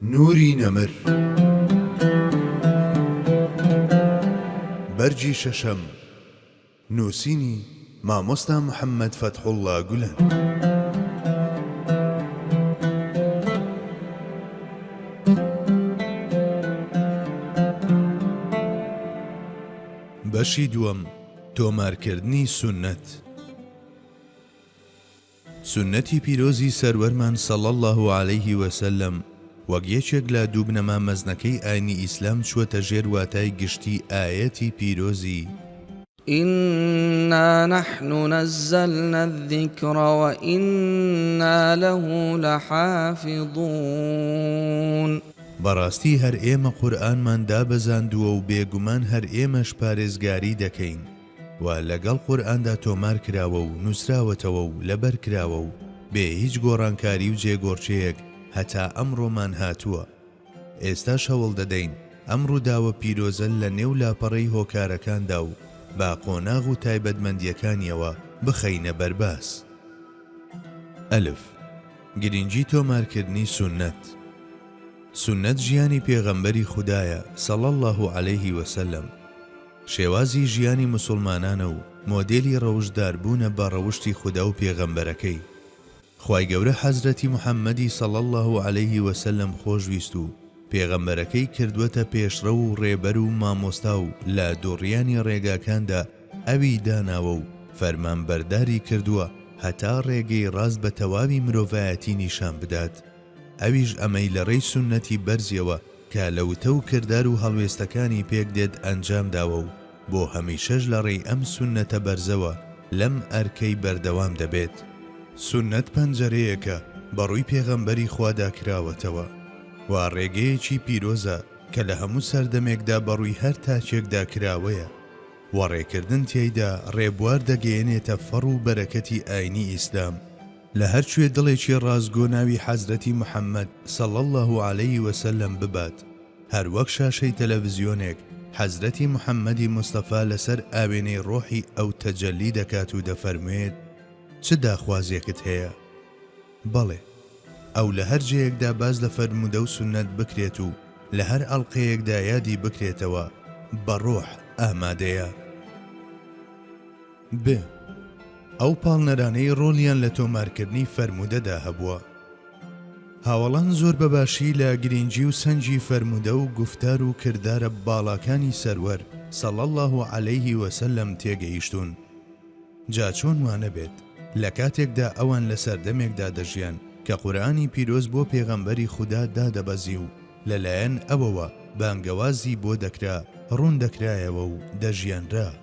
نوری نەمر بەرگی شەشەم نووسینی، مامۆستا محەمەد فەتحوڵڵا گولەن. بەشی دووەم، تۆمارکردنی سوننەت. سوننەتی پیرۆزی سەروەرمان صلی اللە علیه و سلم وەک یەکێک لە دوو بنەما مەزنەکەی ئاینی ئیسلام چووەتە ژێر واتای گشتی ئایەتی پیرۆزی. انا نحن نزلنا الذکر وانا له لحافظون. بەڕاستی هەر ئێمە قورئانمان دابەزاندووە و بێگومان هەر ئێمەش پارێزگاری دەکەین. و لەگەڵ قورئاندا تۆمار کراوە و نووسراوەتەوە و لەبەر کراوە و بێ هیچ گۆڕانکاری و جێگۆڕکێیەک هەتا ئەمڕۆمان هاتووە. ئێستاش هەوڵ دەدەین ئەم ڕووداوە پیرۆزە لە نێو لاپەڕەی هۆکارەکاندا و بە قۆناغ و تایبەتمەندییەکانییەوە بخەینە بەرباس. ئەلف. گرینگی تۆمارکردنی سوننەت. سوننەت ژیانی پێغەمبەری خودایە، صلی اللە علیه و سلم، شێوازی ژیانی مسوڵمانانە و مۆدێلی ڕەوشتدار بوونە بە ڕەوشتی خودا و پێغەمبەرەکەی. خوای گەورە حەزرەتی محمدی صلی اللە علیه و سلم خۆشویست و پێغەمبەرەکەی کردووەتە پێشڕەو و ڕێبەر و مامۆستا و لە دوڕیانی ڕێگاکاندا ئەوی داناوە و فەرمانبەرداری کردووە هەتا ڕێگەی ڕاست بە تەواوی مرۆڤایەتی نیشان بدات ئەویش ئەمەی لە ڕێی سوننەتی بەرزیەوە کە لە وتە و کردار و هەڵوێستەکانی پێک دێت ئەنجام داوە و بۆ هەمیشەش لە ڕێی ئەم سوننەتە بەرزەوە لەم ئەرکەی بەردەوام دەبێت. سوننەت پەنجەرەیەکە بە ڕووی پێغەمبەری خوادا کراوەتەوە و ڕێگەیەکی پیرۆزە کە لە هەموو سەردەمێکدا بە ڕووی هەر تاکێکدا کراوەیە و ڕێکردن تیایدا ڕێبوار دەگەیەنێتە فەڕ و بەرەکەتی ئاینی ئیسلام، لە هەر کوێ دڵێکی ڕاستگۆ ناوی حەزرەتی محەمەد صلی اللە علیە وسلم ببات، هەر وەک شاشەی تەلەڤزیۆنێک حەزرەتی محەمەدی مستەفا لەسەر ئاوێنەی ڕۆحی ئەو تەجەلی دەکات و دەفەرموێت، چ داخوازێکت هەیە؟ بەڵێ. ئەو لە هەر جێیەکدا باس لە فەرموودە و سوننەت بکرێت و لە هەر ئەڵقەیەکدا یادی بکرێتەوە، بە ڕۆح ئامادەیە. ب. ئەو پاڵنەرانەی ڕۆڵیان لە تۆمارکردنی فەرموودەدا هەبووە. هاوەڵان زۆر بە باشی لە گرینگی و سەنگی فەرموودە و گوفتار و کردارە باڵاکانی سەروەر، صلی اللە علیه و سلم، تێگەیشتوون. جا چۆن وا نەبێت، لە کاتێکدا ئەوان لە سەردەمێکدا دەژیان کە قورئانی پیرۆز بۆ پێغەمبەری خودا دادەبەزی و لە لایەن ئەوەوە بانگەوازی بۆ دەکرا، ڕوون دەکرایەوە و دەژیانرا.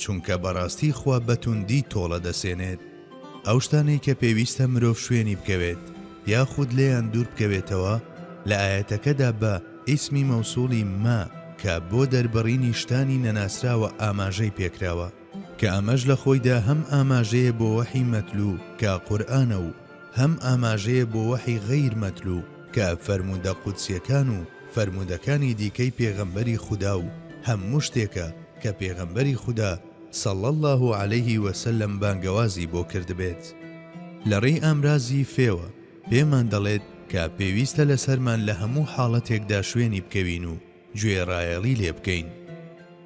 چونکە بەڕاستی خوا بەتوندی تۆڵە دەسێنێت ئەو شتانەی کە پێویستە مرۆڤ شوێنی بکەوێت یاخود لێیان دوور بکەوێتەوە، لە ئایەتەکەدا بە، ئیسمی مەوسوڵی، مە، کە بۆ دەربڕینی شتانی نەناسراوە ئاماژەی پێکراوە، کە ئەمەش لە خۆیدا هەم ئاماژەیە بۆ وەحی مەتلوو کە قورئانە و هەم ئاماژەیە بۆ وەحی غەیر مەتلوو کە فەرموودە قودسیەکان و فەرموودەکانی دیکەی پێغەمبەری خودا و هەموو شتێکە کە پێغەمبەری خودا صلی اللە علیه وسلم بانگەوازی بۆ کردبێت لە ڕێی ئامرازی فێوە پێمان دەڵێت کە پێویستە لەسەرمان لە هەموو حاڵەتێکدا شوێنی بکەوین و گوێڕایەڵی لێ بکەین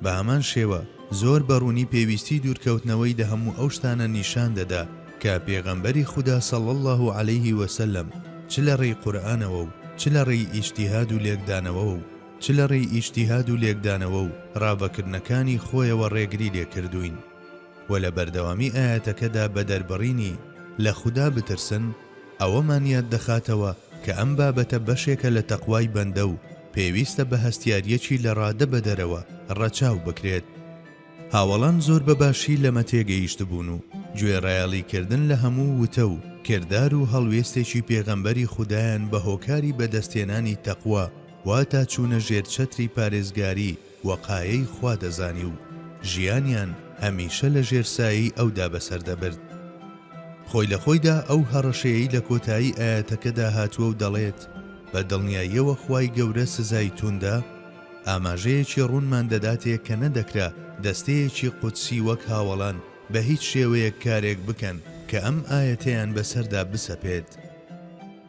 بە هەمان شێوە زۆر بە ڕوونی پێویستی دوورکەوتنەوەی لە هەموو ئەو شتانە نیشان دەدا کە پێغەمبەری خودا صلی اللە علیه وسلم چ لە ڕێی قورئانەوە و چ لە ڕێی ئیجتیهاد و لێکدانەوەوە و چ لە ڕێی ئیجتیهاد و لێکدانەوە و ڕاڤەکردنەکانی خۆیەوە ڕێگری لێ کردووین و لە بەردەوامی ئایەتەکەدا بە دەربڕینی، لە خودا بترسن، ئەوەمان یاد دەخاتەوە کە ئەم بابەتە بەشێکە لە تەقوای بەندە و پێویستە بە هەستیارییەکی لە ڕادە بە دەرەوە ڕەچاو بکرێت. هاوەڵان زۆر بە باشی لەمە تێگەیشتبوون و گوێڕایەڵی کردن لە هەموو وتە و کردار و هەڵوێستێکی پێغەمبەری خودایان بە هۆکاری بە دەستهێنانی تەقوا، واتا چوونە ژێر چەتری پارێزگاری وەقایەی خوا دەزانی و ژیانیان هەمیشە لە ژێر سایەی ئەودا بەسەر دەبرد. خۆی لە خۆیدا ئەو هەڕەشەیەی لە کۆتایی ئایەتەکەدا هاتووە و دەڵێت، بە دڵنیاییەوە خوای گەورە سزای تووندە، ئاماژەیەکی ڕوونمان دەداتێ کە نەدەکرا دەستەیەکی قودسی وەک هاوەڵان بە هیچ شێوەیەک کارێک بکەن کە ئەم ئایەتەیان بەسەردا بسەپێت.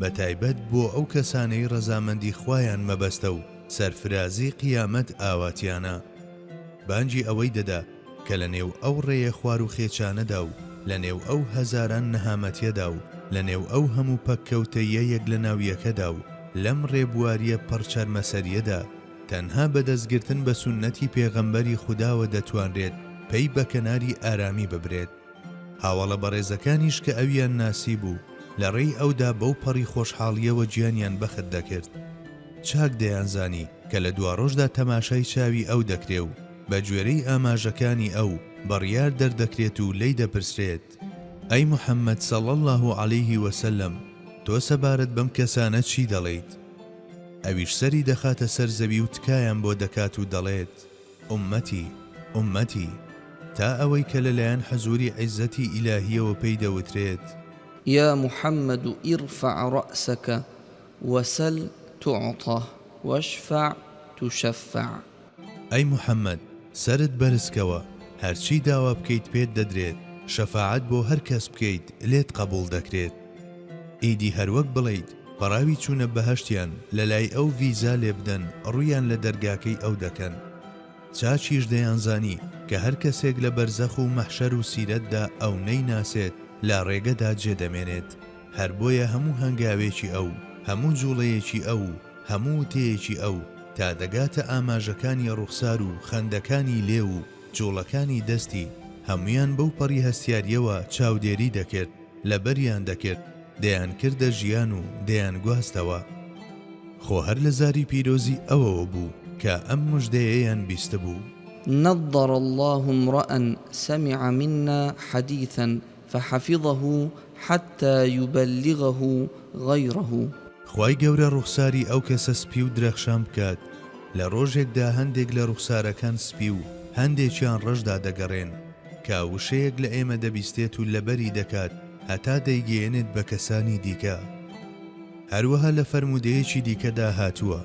بەتایبەت بۆ ئەو کەسانەی ڕەزامەندی خوایان مەبەستە و سەرفرازی قیامەت ئاواتیانە، بانگی ئەوەی دەدا کە لە نێو ئەو ڕێیە خوار و خێچانەدا و لە نێو ئەو هەزاران نەهامەتیەدا و لە نێو ئەو هەموو پەککەوتەییە یەک لە ناو یەکەدا و لەم ڕێبواریە پڕ چەرمەسەریەدا تەنها بە دەستگرتن بە سوننەتی پێغەمبەری خوداوە دەتوانرێت پەی بە کەناری ئارامی ببرێت. هاوەڵە بەڕێزەکانیش کە ئەویان ناسیبوو، لە ڕێی ئەودا بەو پەڕی خۆشحاڵییەوە گیانیان بەخت دەکرد. چاک دەیانزانی کە لە دواڕۆژدا تەماشای چاوی ئەو دەکرێ و بە گوێرەی ئاماژەکانی ئەو، بڕیار دەردەکرێت و لێی دەپرسرێت، ئەی محەممەد صلی اللە علیه و سلم، تۆ سەبارەت بەم کەسانە چی دەڵێیت؟ ئەویش سەری دەخاتە سەر زەوی و تکایان بۆ دەکات و دەڵێت. ئوممەتی، ئوممەتی، تا ئەوەی کە لە لایەن حزووری عیززەتی ئیلاهییەوە پێی دەوترێت. یا محمد ارفع راسک وسل تعطە واشفع تشفع. ئەی محمد، سەرت بەرزکەوە، هەرچی داوا بکەیت پێت دەدرێت، شەفاعەت بۆ هەر کەس بکەیت لێت قەبووڵ دەکرێت. ئیدی هەروەک بڵێیت پەڕاوی چوونە بەهەشتیان لەلای ئەو ڤیزا لێبدەن ڕوویان لە دەرگاکەی ئەو دەکەن چاچیش دەیانزانی کە هەر کەسێک لە بەرزەخ و مەحشەر و سیرەتدا ئەو نەیناسێت لا ڕێگەدا جێ دەمێنێت هەر بۆیە هەموو هەنگاوێکی ئەو هەموو جوڵەیەکی ئەو و هەموو وتەیەکی ئەو تا دەگاتە ئاماژەکانی ڕوخسار و خەندەکانی لێو و جوڵەکانی دەستی هەموویان بەو پەڕی هەستیارییەوە چاودێری دەکرد. لەبەریان دەکرد دەیانکردە ژیان و دەیانگواستەوە. خۆ هەر لە زاری پیرۆزی ئەوەوە بوو کە ئەم مژدەیەیان بیستبوو. نضر اللە امرء سمع منا حدیثا فحفظه حتی یبلغه غیره. خوای گەورە ڕوخساری ئەو کەسە سپی و درەخشان بکات، لە ڕۆژێکدا هەندێک لە ڕوخسارەکان سپی و هەندێکیان ڕەش دادەگەڕێن، کە وشەیەک لە ئێمە دەبیستێت و لەبەری دەکات هەتا دەیگەیەنێت بە کەسانی دیکە. هەروەها لە فەرموودەیەکی دیکەدا هاتووە.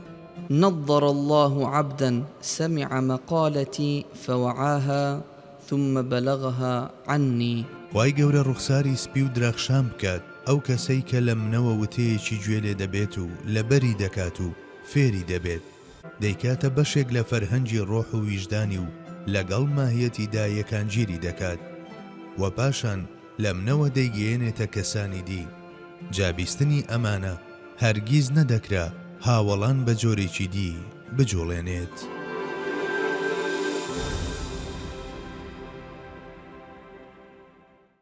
نضر اللە عبدا سمع مقالتی فوعاها ثم بلغها عنی. خوای گەورە ڕوخساری سپی و درەخشان بکات ئەو کەسەی کە لە منەوە وتەیەکی گوێ لێ دەبێت و لەبەری دەکات و فێری دەبێت. دەیکاتە بەشێک لە فەرهەنگی ڕۆح و ویژدانی و لەگەڵ ماهیەتیدا یەکانگیری دەکات و پاشان لە منەوە دەیگەیەنێتە کەسانی دی. جا بیستنی ئەمانە هەرگیز نەدەکرا هاوەڵان بە جۆرێکی دی بجوڵێنێت.